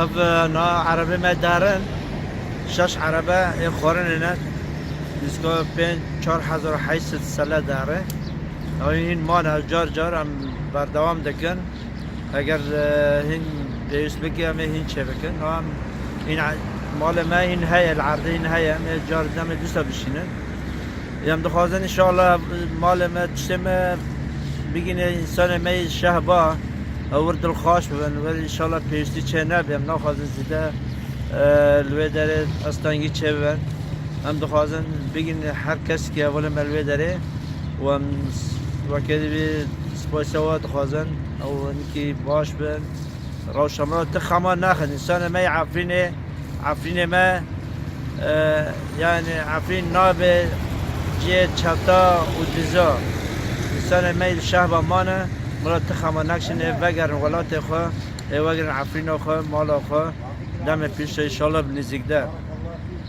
Ev na erebê me derin. Şeş erebe ê xwarinê ne. Nîska pênc çar hezar heşt sed sele derin. Ew hîn mane car car em berdewam dikin. Eger hîn pêwîst bike em ê hîn çêbikin. No em hîn malê me hîn heye li erdê hîn heye em ê car bi demê dûsa bişînin. Em dixwazin inşallah malê me tiştê me bigîne însanê me yê şehba ew wir dilxwaş bibin wir inşallah pêwîstî çê nebe. Em naxwazin zîde li wê derê estengî çêbibin. Em dixwazin bigîne her kesekê welê me li wê derê. û em weke di vê spasê wa dixwazin ew hinkî baş bin. Rewşa me ti xema naxin. Însanê me yê Efrînê, Efrînê me e, yani Efrîn navê cihê çeta û diza. Însanê me yê li şehba man e, min re ti xema nakişin ê vegerin welatê xwe, ê wegirin Efrîna xwe, mala xwe. Demê pêş e, înşallah bi nêzîk de.